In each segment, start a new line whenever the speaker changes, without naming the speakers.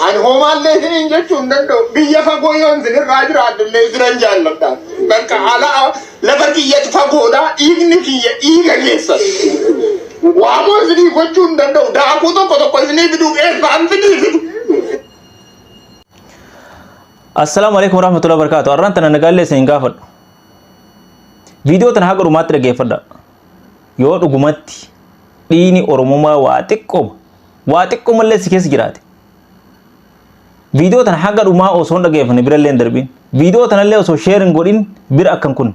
Ani hoomaallee isiniin jechuu hin danda'u. Biyya fagoo yoon isinirraa jiraadhullee isinan jaalladha. Bakka ala lafa kiyyatu fagoodha. Dhiigni kiyya dhiiga keessan. Waamoo isinii gochuu hin danda'u. Daakuu tokko tokko isinii fiduuf eessaan fidii fidu.
Assalaamu alaikum warahmatullahi wabarakatuh. Arraan tana nagaallee isin gaafadhu. Viidiyoo tana haga dhumaatti dhaggeeffadha. Yoo dhugumatti dhiini Oromummaa waa xiqqooma waa xiqqoo mallee si keessa jiraate. Viidiyoo tana haga dhumaa osoo hin dhageeffanne birallee hin darbiin. Viidiyoo tanallee osoo sheer hin godhin bira akkan kun.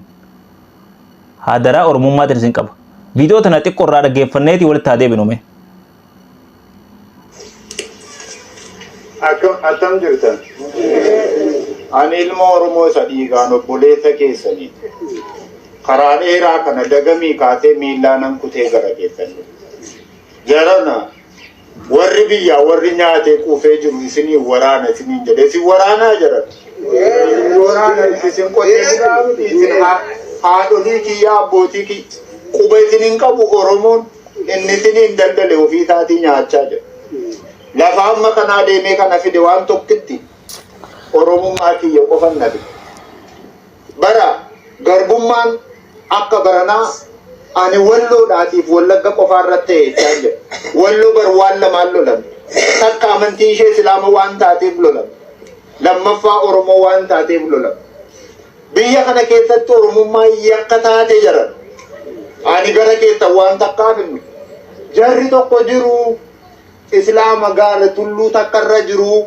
Hadaraa Oromummaa tan isin qaba. Viidiyoo tana xiqqoo irraa dhageeffanneeti walitti haa deebinu mee.
Akkam attam jirtan? Ani ilma Oromoo isa dhiigaan obboleessa keessanii karaa dheeraa kana dagamii kaasee miillaa nan kutee gara keessan dhufe. Jarana warri biyyaa warri nyaatee quufee jiru isinii waraana isiniin jedhe isin waraanaa jedhan. Waraana isin qotee bulaa miti isin haa- haadholii kiyya abbootii kiyya quba isin hin qabu Oromoon inni isiniin daldale ofii isaatii nyaachaa jedha. Lafa amma kanaa deemee kana fide waan tokkitti Oromummaa kiyya qofan na fide. Bara garbummaan akka baranaa ani Walloodhaatiif Wallagga qofaa irratti ta'e jechaa hin jedhu. Walloo bar waan lamaan lolamte. Takka amantiin ishee Islaama waan taateef lolamte. Lammaffaa Oromoo waan taateef lolamte. Biyya kana keessatti Oromummaa yakka taate jaran. Ani gara keessan waan takkaaf hin dhufu. Jarri tokko jiru Islaama gaara tulluu takka irra jiru.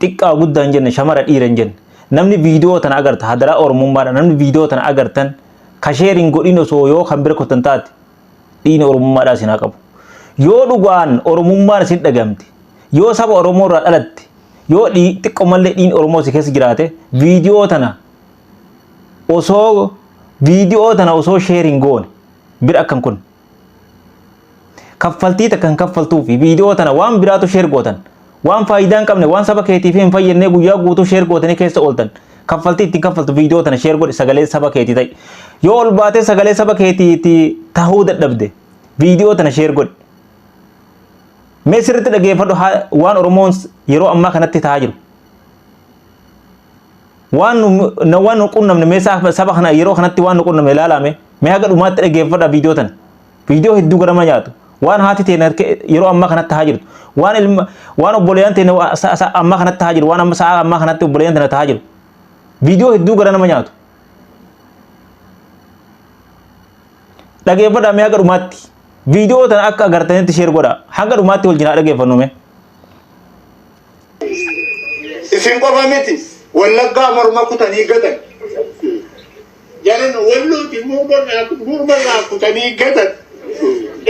Xiqqaa guddaa hin jenne shamara dhiira hin jenne. Namni viidiyoo tana agarta hadaraa oromummaadha namni viidiyoo tana agartan ka sheer hin godhin osoo yoo kan bira kottan taate dhiini oromummaadhaa isin haa qabu. Yoo dhugaan oromummaan isin dhagamte yoo saba oromoo irraa dhalatte yoo dhii- xiqqoo mallee dhiini oromoo si keessa jiraate viidiyoo tana osoo viidiyoo tana osoo sheer hin goone bira akkan kun. kaffaltii takka hin kaffaltuu fi viidiyoo tana waan biraatu sheer gootan waan faayidaa hin qabne waan saba keetiif hin fayyadne guyyaa guutuu sheer gootanii keessa ooltan kaffaltii ittiin kaffaltu viidiyoo tana sheer godhi sagalee saba keetii ta'i yoo ol baatee sagalee saba keetiitti tahuu dadhabde viidiyoo tana sheer godhi mee sirriitti dhageeffadhu haa- waan oromoon yeroo ammaa kanatti tahaa jiru Waan nu waan nu qunnamne mee saba kana yeroo kanatti waan nu qunnamne ilaalaa mee mee haga dhumaatti dhaggeeffadha viidiyoo tana. Viidiyoo hedduu garama nyaatu. Waan haati teen yeroo ammaa kanatti haa jirtu. Waan ilma waan obboleeyyan teen ammaa kanatti haa jiru. Waan amma sa'a ammaa kanatti obboleeyyan tana taa jiru. Viidiyoo hedduu gara nama nyaatu. Dhaggeeffadha mee haga dhumaatti. Viidiyoo tana akka agartanitti sheer godha. Hanga dhumaatti wal jinaa dhaggeeffannu mee.
Isin qofa miti wallaggaa morma kutanii gatan. Jaran wallooti morma irraa kutanii gatan.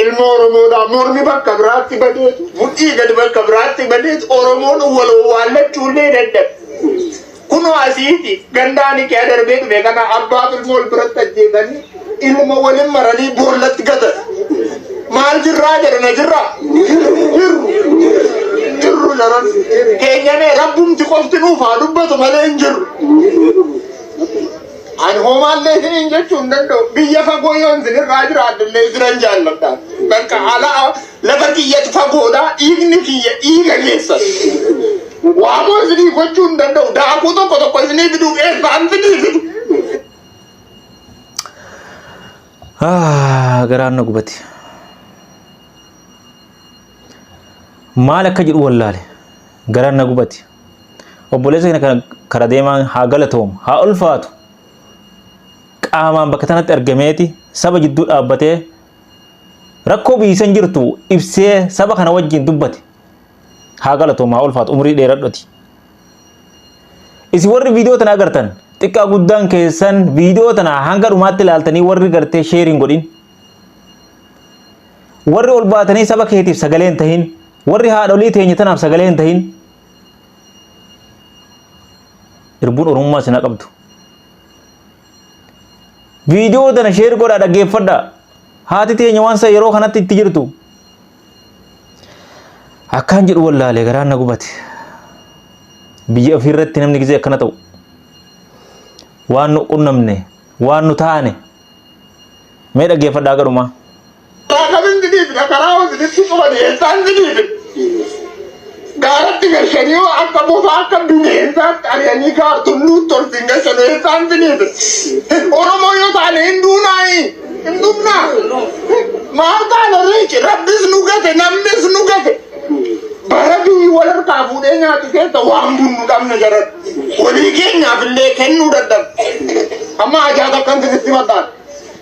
Ilma Oromoodhaa mormi bakka biraatti badeetu mudhii gadi bakka biraatti badeetu Oromoon wal owwaallachuullee dadhabe. Kunoo asiiti gandaani kee darbee dhufe kana abbaaf ilmoo wal biratti ajjeesanii ilma walin maranii boollatti gatan. Maal jirraa jedhe na jirraa? Jirru. Jirru jaran. Keenyamee rabbumti qofti nuuf haa dubbatu malee hin jirru. Ani hoomaallee isiniin jechuu hin danda'u. Biyya fagoo yoon isinirraa jiraadhullee isinan jaalladha. Bakka ala Lafa tiyyatu fagoodha, dhiigni kiyya dhiiga keessan. Waamoo isinii gochuu hin danda'u, daakuu tokko tokko isinii fiduuf eessaan fidii
fidu. Ah, garaan na gubate. Maal akka jedhu wallaale. Garaan na gubate. Obboleessa kana kana kara deemaan haa galatoomu, haa ulfaatu. Qaamaan bakka tanatti argameeti saba jidduu dhaabbatee rakkoo biyyisan jirtu ibsee saba kana wajjin dubbate haa galatoomaa ulfaat umrii dheeradhoti isin warri viidiyoo tana agartan xiqqaa guddaan keessan viidiyoo tana hanga dhumaatti ilaaltanii warri gartee sheeriin godhin warri ol baatanii saba keetiif sagalee hin tahin warri haadholii teenya tanaaf sagalee hin tahin irbuun oromummaa isin haa qabdu viidiyoo tana sheer godhaa dhaggeeffadha haati teenya waan san yeroo kanatti itti jirtu akkaan jedhu wallaalee garaan na gubate biyya ofii irratti namni gisee akkana ta'u waan nu qunnamne waan nu taane mee dhaggeeffadhaa garumaa Taakabin
didiif dhakaraa hojitti cufa dhiyeessaan didiif gaaratti gashanii yoo akka bofaa akka bineensaatti ari'anii gaartulluu tolfiin gashan eessaan didiif Oromoo yoo taane hin duunaayi hin duunaa maal taana riici rabbis nu gate namnis nu gate bara biyyi wal harkaa fuudhee nyaatu keessa waan bunnu dhabne jaran walii keenyaaf illee kennuu dadhabe amma ajaa'ib akkan sirriitti mataan.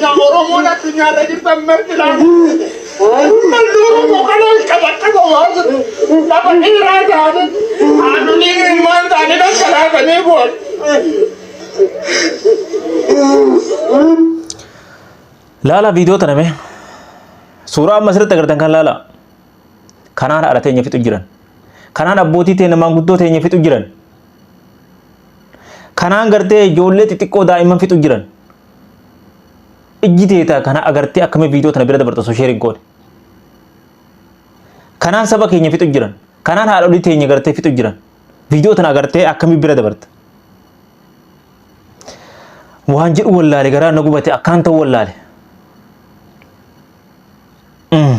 Yaa Oromoon addunyaarra jirtan marti laala. Uummanni Oromoo kana hin qabatte gowwaa jiru. Lafa dhiiraa taane haadholii ilmaan taane dhaggalaatanii bu'an.
Laala viidiyoo tana mee. Suuraa amma asirratti agartan kan laala. Kanaan haadha teenya fixu jiran. Kanaan abbootii teenya maanguddoo teenya fixu jiran. Kanaan gartee ijoollee xixiqqoo daa'imman fixu jiran. ijji teeta kana agartee akkamiin viidiyoo tana bira dabarta osoo sheer hin goone. Kanaan saba keenya fixu jiran. Kanaan haadholii teenya gartee fixu jiran. Viidiyoo tana agartee akkamiin bira dabarta. Waan jedhu wallaale garaa na gubate akkaan ta'u wallaale. Mm.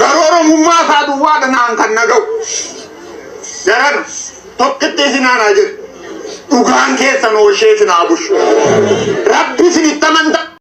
Garuu Oromummaa isaa duwwaa dhanaan kan na ga'u. Daran tokkitti isin aanaa jedhu. Dhugaan keessan hoolshee isin haa bushu. Rabbi isin itti amantaa.